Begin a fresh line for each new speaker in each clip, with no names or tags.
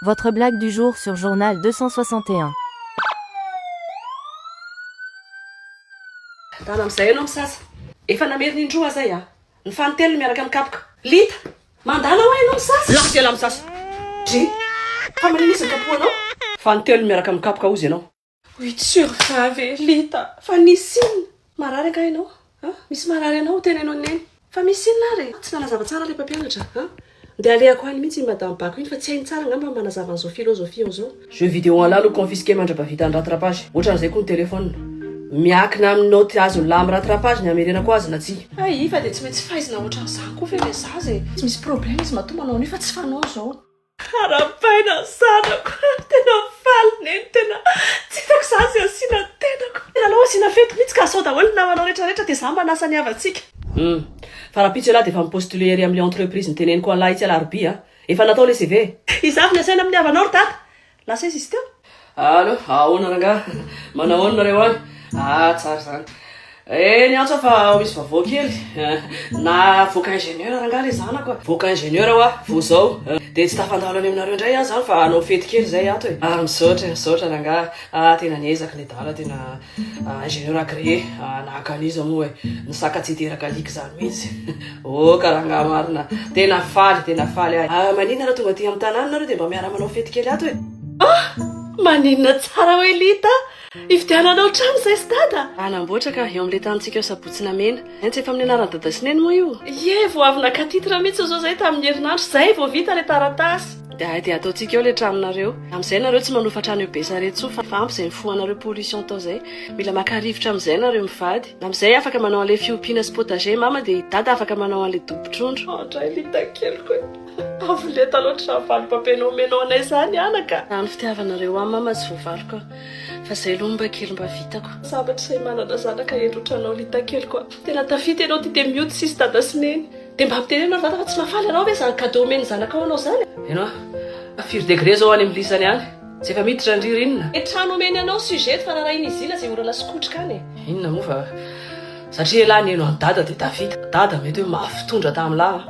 Votre blague du jour sur journal deux cent soixante et
un. Tana amizay enao misasa. Efa namerina indroa zay a. Ny fanintelony miaraka am kapoka. Lita, mandala hoa enao misasa. Lavo dia lavo sasa. Drii. Fa manina izy ny kapohanao? Fanintelony miaraka am kapoka ozy enao. Oui tu survins ve Lita fa nisy inona? Marary angaha ianao a? Misy marary anao ho teneno an'i Neny fa misy inona ary e? Tsy nanazava tsara ilay mpampianatra a? Ndeha alehako any mihitsy iny madame Bako iny fa tsy hainy tsara angamba ny manazava an'izao philosophie ao izao. Jeux vidéo anlah no confisquer mandra-bavita ny rattrapage. Ohatran'izay koa ny telephone. Miakina amin'ny naoty azonlah amin'ny rattrapage ny hamerenako azy na tsia. Hay fa dia tsy maintsy faizina ohatran'izany koa ve ilay zaza e? Tsy misy problème izy matoa manao an'io fa tsy fanao izao. Arahabaina ny zanako a! Tena faly neny, tena tsy hitako izaho izay asiana ny tenako. Tena alao asiana fety mihitsy ka asao daholo ny namanao rehetra rehetra dia izaho manasa ny havantsika. Humm. Fa rahampitso ialahy dia efa mi-postuler ery amin'ilay entreprise noteneniko an'lah itsy alarobia a! Efa natao ilay CV e! Izaho avy nasaina amin'ny havanao ry dada! Lasa aiza izy teo? Allo, ahoana rangaha? Manao ahoana nareo any? Ah tsara izany. Eh ny antso fa misy vaovao kely. Navoaka ingénieur rangaha le zanako. Voaka ingénieur hoa vao zao. Dia tsy tafandalo any aminareo indray aho izany fa hanao fety kely izay ato e. Ah misaotra e, misaotra rangaha. Ah tena niezaka nedala tena. Ingénieur agréé nahaka an'iza moa e, ny saka tsy hiteraka alika izany mihitsy. Oh ka rangahy marina, tena faly, tena faly ahy. Ah, maninona raha tonga aty amin'ny tanàna nareo dia mba miara manao fety kely ato e. Ah, maninona tsara hoy Lita, hividiananao trano izay stade a. Hanamboatra ka eo amin'ilay tanintsika ao Sabotsy Namena. Hentso eto amin'ny anaran'i dada sy neny moa io? Ie, vao avy naka titre mihitsy izao izahay tamin'ny herinandro izay vao vita ilay taratasy. Dia hay dia ataontsika eo ilay tranonareo. Amin'izay ianareo tsy manofa trano eo Besarety intsony fa ampy izay nifohanareo pollution tao izay. Mila maka rivotra amin'izay ianareo mivady. Amin'izay afaka manao an'ilay fiompiana sy potager i mama dia i dada afaka manao an'ilay dobo trondro. An dray lita keliko e! Avo lenta loatra izany valim-pampeno omenao anay izany anaka! Raha ny fitiavanareo ahy mama tsy voavaliko a! Fa zay aloha mba kely mba vitako. Sabatra sahy manana zanaka hendry otranao Lita keliko a! Tena tafita ianao ty dia mioty sisy dada sy neny. Dia mba ampidereno ry vata fa tsy mahafaly anao ve zany cadeau omen'ny zanakao anao zany a! Heno a! Firy degré zao any amin'ny lisany any? Tsy efa miditra ny ririnina? Dia trano omeny anao suzette fa rarahin'i Zila zay orana sy kotrika any e! Inona moa fa satria elah niheno an'i dada dia tafita. Dada mety hoe mafy tondra tamin'lah an!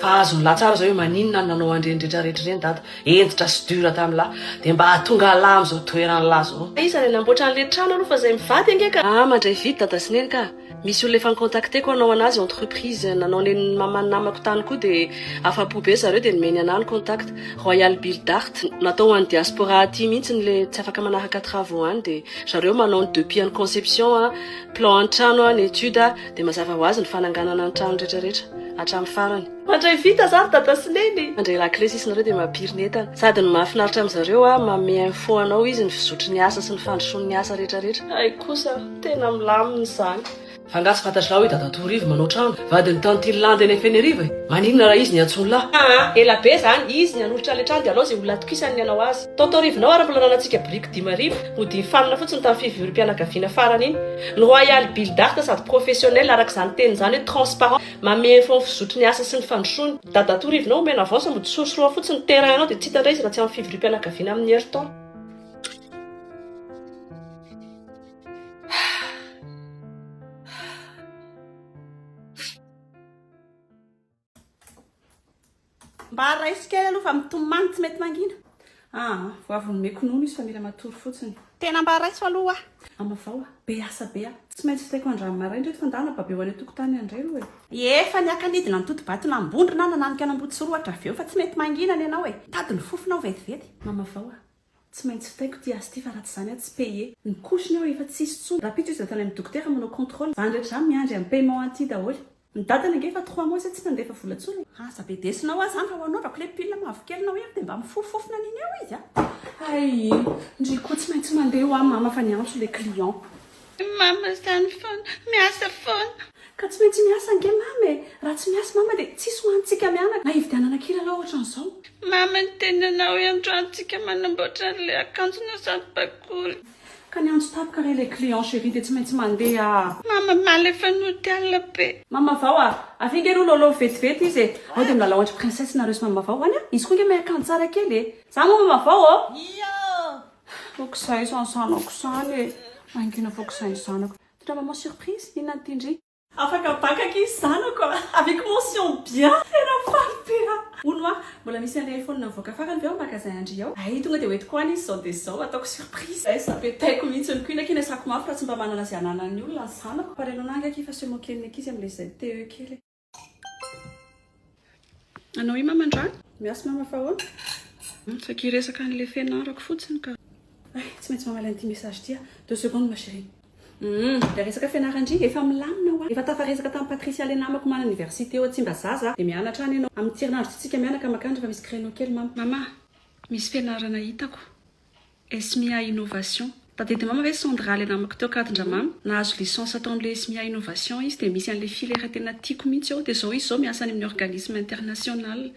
Fa azon'lah tsara zao hoe maninona no nanao an'ireny retraretra ireny dada. Hentitra sy dur tamin'ny lahy dia mba hahatonga an lahy amin'izao toeran'ny lahy izao. Iza ilay namboatra anle trano aloha fa zay mivady ange ka. Ah mandray vide dada sy neny ka. Misy olona efa nicontacteko hanao anazy entreprise nanao nen'ny maman'ny namako tany koa dia afapo be zareo dia nomeny anah ny contact royal build art natao ho an'ny diaspora aty mihitsy ny le tsy afaka manaraka travaux any dia zareo manao ny depuis any conception a plan any trano a ny etude a dia mazava ho azy ny fananganana ny trano retraretra hatramin'ny farany Mandray vita za ry dada sy neny. Mandray lakilesy isinareo dia mampiry ny entana. Sady ny mahafinaritra amin'izareo a, manome info anao izy ny fizotry ny asa sy ny fandrosoany ny asa rehetra rehetra. Hay kosa, tena milamina izany. Fa nga tsy fantatrao i dada Torivo manao trano? Vadin'i tantine landy any Fenerive e! Maninona raha izy ny antson'lah? Aa! Ela be zany, izy ny hanolotra le trano de alao ze olona atokisany ny hanao azy. Tao Taorivinao ary mbola nanantsika biriky dimy arivo hodiny fanina fotsiny tam fivoirim-pianakaviana farany iny. Ny royal build art sady professionnel araka izany teniny izany hoe transparent. Mamehy info ny fizotry ny asa sy ny fandrosoana. Dadatoa Rivinao omena avance mody sorosoroa fotsiny ny terrain anao dia tsy hita indray izy raha tsy amin'ny fivoriam-pianakaviana amin'ny heriton. Mba raiso kely aloha fa mitomany tsy mety mangina. Ah vao avy nomeko nono izy fa mila matory fotsiny. Tena mba raiso aloha oa. Amavao a! Be asa be a! Tsy maintsy vitaiko andrano maraina reto fa ndana baby ao any an-tokotany any reo e! Efa niaka nidina ny totobato nambondrona na nanika an'Ambohitsirohatra avy eo fa tsy mety mangina ny anao e! Tady ny fofona ao vetivety. Amavao a! Tsy maintsy vitaiko ty azy ty fa raha tsy zany aho tsy paye. Ny couche-ny ao efa tsisy tsony. Rahampitso izy natao any amin'ny dokotera manao contrôle. Zany rehetra zany miandry an'i paiement an'ity daholo. Ny dadany ange efa trois mois zay tsy nandefa vola tsony e. Aza be desona hoa zany raha ho anao raha kle pile mavokely nao iny dia mba mifofofofona an'iny eo izy a. Hay iny ndry ko tsy maintsy mandeha hoa mama fa niantso le client. Ny mama izany foana, miasa foana. Ka tsy maintsy miasa ange mama e! Raha tsy miasa mama dia tsisy ho antsika mianaka na hividianana kilalao ohatran'izao. Mama ny teninao iandroany tsika manamboatra an'ilay akanjo na sady bakoly. Ka ny antso tapaka re ilay client chérie dia tsy maintsy mandeha a! Mama mala efa nody alina be. Mama vao a! Avy ange aloha lôlô vetivety izy e! Ao dia milalao andry princesse nareo sy mama vao any a! Izy koa ange mahay akanjo tsara kely e! Za moa mama vao ô! Ioo! Ko kizay izany zanako izany e. Mangina fo kizay ny zanako. Tena maman surprise inona ny tian-dry. Afaka bacc izy zanako a! Avec mention bien! Tena faly be aho! Hono hoa, mbola misy an'ilay iPhone nivoaka farany ve ao magasin an-dry ao? Hay tonga dia ho entiko any izy izao dia izao, ataoko surprise. Hay sa petaiko mihitsy ny koina, kinesako mafy raha tsy mba manana izay ananan'ny olona ny zanako. Fa renao ange akia fa se moquer ny ankizy amin'ilay izay TE kely e. Anao i mama ndra? Miasy mama fa ahoana? Saika hiresaka an'ilay fianarako fotsiny ka. Ay, tsy maintsy mamaly an'ity message ity aho. Deux secondes ma chérie. Hum, ilay resaka fianaran-dry efa milamina hoa. Efa tafaresaka tamin'i Patricia ilay namako manana université ao Tsimbazaza a. Dia mianatra any ianao. Amin'ny tsirinandro ity tsika mianaka makany rehefa misy créneau kely mama. Mama, misy fianarana hitako. Esmia Innovation. Tadidy mama ve son dra le namako teo kadindra mama nahazo licence tao amle Esmia Innovation izy de misy anle filière tena tiako mintsy eo de zao izy zao miasa any aminy organisme international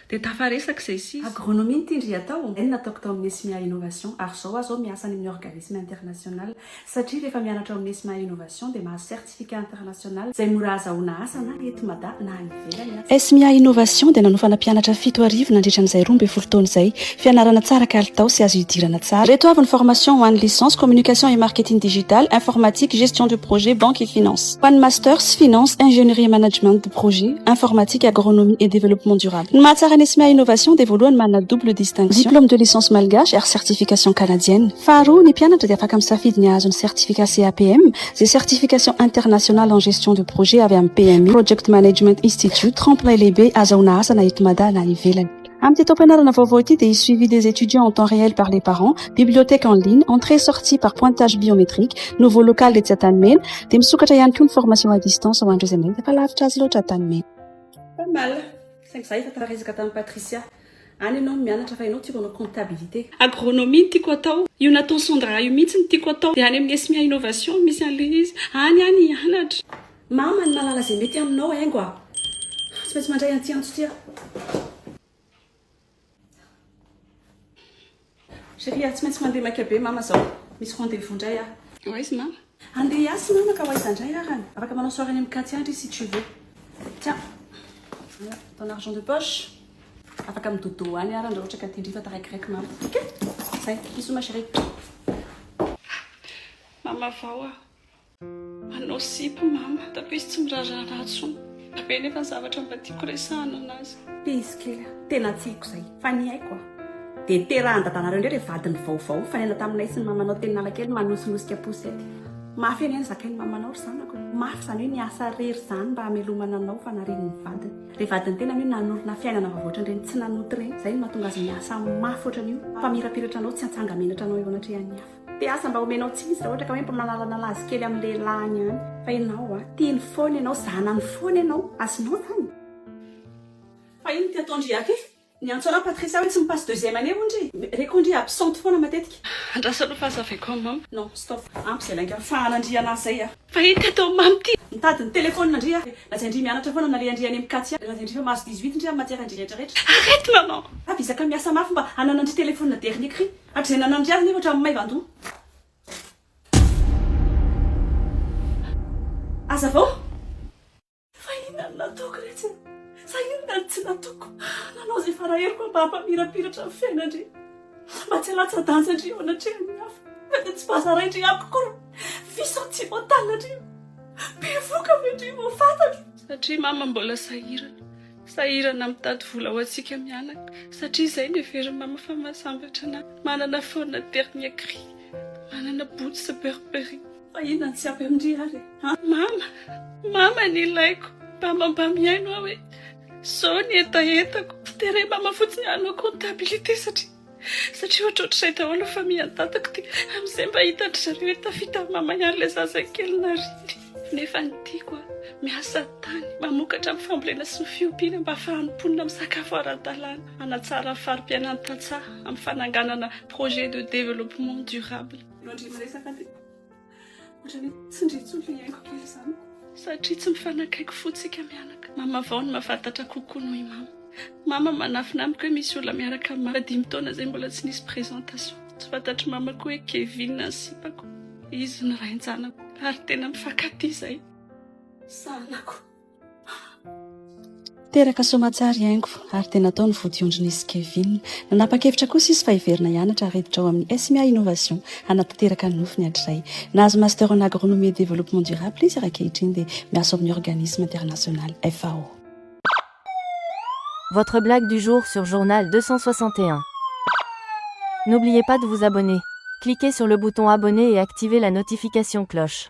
de tafaresaka zay sy izy. Agronomie no tindry atao zay no nataoko tao aminy Esmia Innovation ary zao aza aho miasa any aminy organisme international satria refa mianatra ao aminy Esmia Innovation de mahazo Scientifique International izay mora azahoana asa na eto Mada na any ivelany aza. Esmia Innovation dia nanofa nampianatra fito arivo nandritra an'izay roa ambin'ny folo taona izay. Fianarana tsara kalitao sy azo hidirana tsara. Ireto avy ny formation ho an'ny licence, Communication et Marketing Digital, Informatique, Gestion de Projet, Banque et Finance. Ho an'ny masters, Finance, Ingénierie et Management de Projet, Informatique, Agronomie et Développement Durable. Ny mahatsara ny Esmia Innovation dia voalohany manana double distinction, Diplôme de Licence Malgache ary Certification Canadienne. Faharoa, ny mpianatra dia afaka misafidy ny hahazo ny Certificat CAPM, Izay certification internationale en gestion de projet avy amin'ny PMI, Project Management Institute, tremplin lehibe azahoana asa na eto Mada na ivelany. Amin'ity taom-pianarana vaovao ity dia hisy suivi des étudiants en temps réel par les parents, bibliothèque en ligne, entrée sortie par pointage biométrique, nouveau local etsy Antanimena, dia misokatra ihany koa ny formation à distance ho an'ireo izay mba hita fa lavitra azy loatra Antanimena. Pas mal! Saingy izaho efa tara resaka tamin'i Patricia. Any ianao no mianatra fa ianao tiako hanao comptabilité. Agronomie no tiako hatao. Io natao sondra io mihitsy no tiako hatao. Dia any amin'ny Esmia Innovation misy an'ilay izy. Any aho no hianatra. Mama ny malala izay mety aminao haingo a! Tsy maintsy mandray an'ity antso ity aho. Chérie ah tsy maintsy mandeha maika be mama zao misy rendez vous ndray ah. Ho aiza mama? Handeha hiasy mama ka ho aiza ndray ary an? Afaka manao soirée any amin'i Katy any ry si tu veux. Tiens ton argent de poche. Afaka mi dodo any ary an raha ohatra ka tindreo fa taraikiraiky mama ok? Zay bisous ma chérie. Mama vao aho. Manao sipa mama, tapis izy tsy miraharaha anah tsony. Be nefa ny zavatra mba tiako resahana anazy. Tia izy kely aho, tena tsy haiko izay, fa ny haiko a! Dia terahan'i dadanareo indray ilay vadiny vaovao, nifanaina taminay sy ny mamanao teny Analakely manosinosika poussette. Mafy anie ny zakain'ny mamanao ry zanako e! Mafy izany hoe niasa re ry zany mba hamelomana anao fa nariany ny vadiny. Ilay vadiny tena anie nanorina fiainana vaovao ohatran'ireny tsy nanota ireny, izay no mahatonga azy miasa mafy ohatran'io, fa mirapiratra anao tsy hantsanga-menatra anao eo anatrehan'ny hafa. Mpihasa mba omenao tsisy raha ohatra ka hoe mpamalalanala azy kely amin'ny lehilahiny ihany fa ianao a tiany foana ianao zanany foana ianao azonao zany Fa ino ty ataondry Yake? Niantso anao Patricia hoe tsy mi-passe deuxième année hono ry Reko ndry absente foana matetika. Andraso aloha fa aza avy akao Mom. Non, stop, ampy izay lainga fahana ndry anah zay a! Fa ino ty ataon'i Mom ty? Mitady ny telephone ndry aho. Lazainy ndry mianatra foana na lehandry any amin'i Katia. Lazainy ndry fa mahazo dix-huit ndry amin'ny matière ndry rehetra rehetra. Arrête maman! Avy izaka miasa mafy mba hananandry telephone dernier cri. Hatrizay nanampy azy nefa hatramin'ny maivan-doha. Hazavao fa inona no nataoko re tsy sa inona no tsy nataoko. Nanao izay faraheriko mba hampamirapiratra ny fiainany re. Mba tsy halatsa-danja re eo anatrehan'ny hafa. Na dia tsy bazaray re amiko akory. Vice sentimental re. Bevoka ve re vao fantatro. Satria mama mbola sahirana. Sahirana mitady vola ho antsika mianaka satria izay no heverin'i mama fa mahasambatra anay. Manana phone dernier cri, manana boots Burberry. Fa inona no tsy ampy amin-dry ary e? An! Mama! Mama ny ilaiko! Mama mba mihaino aho e! Izao ny hetahetako! Dera i mama fotsiny hanao comptabilité satria. satria ohatrohatrizay daholo ny famihan-tatako dia amin'izay mba hitan-dry zareo hoe tafita amin'ny mamany ary ilay zazakely nariny nefa ny tiako miasa tany mamokatra amin'ny fambolena sy ny fiompiana mba hahafahan'ny mponina misakafo ara-dalàna hanatsara ny fari-piainan'ny tantsaha amin'ny fananganana projet de développement durable Ohatrany hoe tsindry intsony ilay haingo kely izany. Satria tsy mifanakaiky fo tsika mianaka. Mama vao no mahafatatra kokoa noho i mama. Mama manafina amiko hoe misy olona miaraka am mama dimy taona izay mbola tsy nisy présentation. Tsy fantatry mama koa hoe Kevin ny sipako. Izy no rain-janako ary tena mifankatia izay. Sahanako.
Teraka soamantsara i Haingo ary dia natao ny vodiondrin'izy Kevin. Nanapa-kevitra kosa izy fa hiverina hianatra ary hiditra ao amin'ny SMIA Innovation hanatanteraka ny nofiny hatrizay. Nahazo Master en Agronomie et Développement Durable izy ary ankehitriny dia miasa ao amin'ny Organisme International, FAO.
Votre blague du jour sur journal 261. N'oubliez pas de vous abonner. Cliquez sur le bouton abonner et activez la notification cloche.